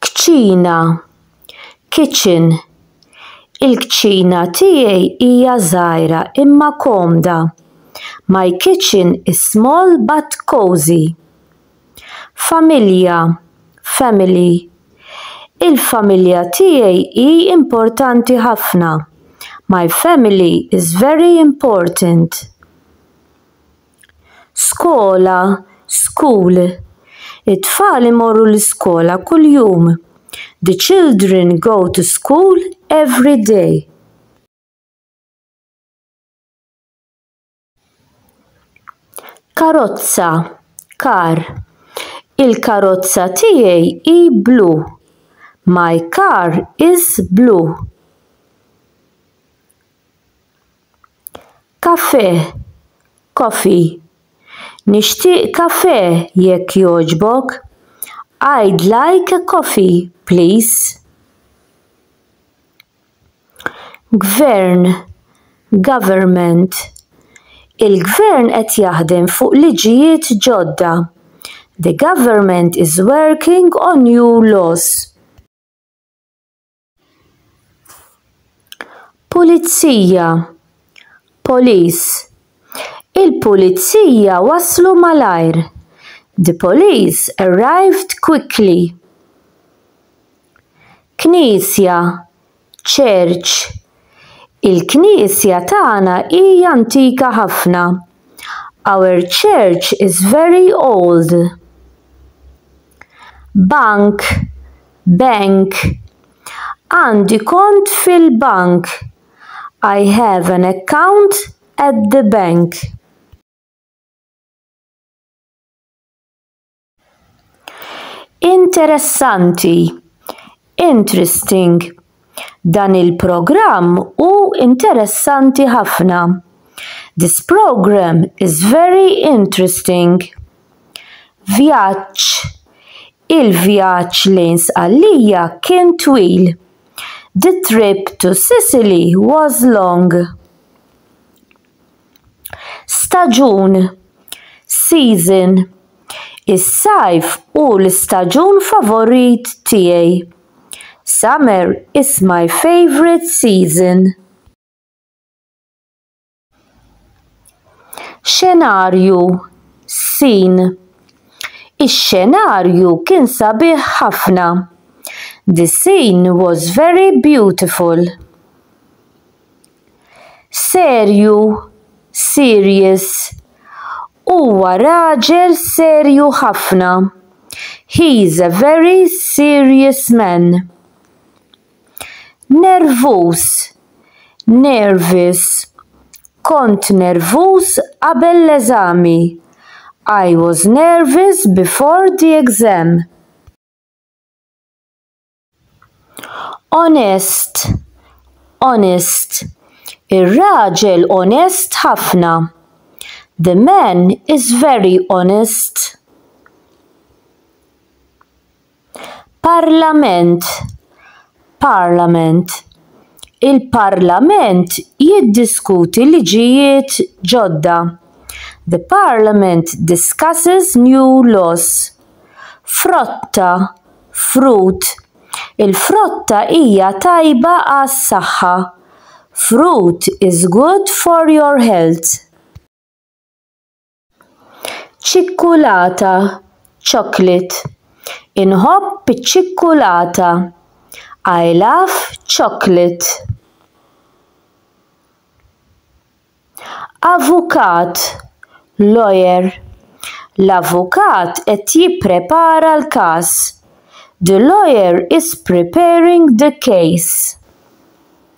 Kċina, kitchen, Il-kċina tiegħi hija żgħira imma komda. My kitchen is small but cosy. Familja, family, Il-familja tiegħi hi importanti ħafna. My family is very important. skola, school it-tfal imorru l-iskola kuljum, the children go to school every day. karozza, car il-karozza tiegħi hi blu, my car is blue. Kafè, coffee. Nixtieq kafè jekk jogħġbok. I'd like a coffee, please. Gvern, government. Il-gvern qed jaħdem fuq liġijiet ġodda. The government is working on new laws. Pulizija, police. Il-pulizija waslu malajr. The police arrived quickly. Knisja, church. Il-knisja tagħna hija antika ħafna. Our church is very old. Bank, bank. Għandi kont fil-bank. I have an account at the bank. Interessanti, interesting. Dan il-programm hu interessanti ħafna. This programme is very interesting. Vjaġġ, Il-vjaġġ lejn Sqallija kien twil. The trip to Sicily was long. Staġun, season. Is-sajf hu l-istaġun favorit tiegħi. Summer is my favorite season. Xenarju sin. Ix-xenarju kien sabiħ ħafna. The scene was very beautiful. Serju, serious. Huwa raġel serju ħafna. He is a very serious man. Nervuż, nervous. Kont nervuż qabel l-eżami. I was nervous before the exam. Onest, honest. Ir-raġel onest ħafna. The man is very honest. Parlament, Parliament, il-Parlament jiddiskuti liġijiet ġodda, the Parliament discusses new laws, Frotta, Fruit, il-frotta hija tajba għas-saħħa, fruit is good for your health. Ċikkulata, chocolate. Inħobb iċ-ċikkulata. I love chocolate. Avukat, lawyer. L-avukat qed jipprepara l-każ. The lawyer is preparing the case.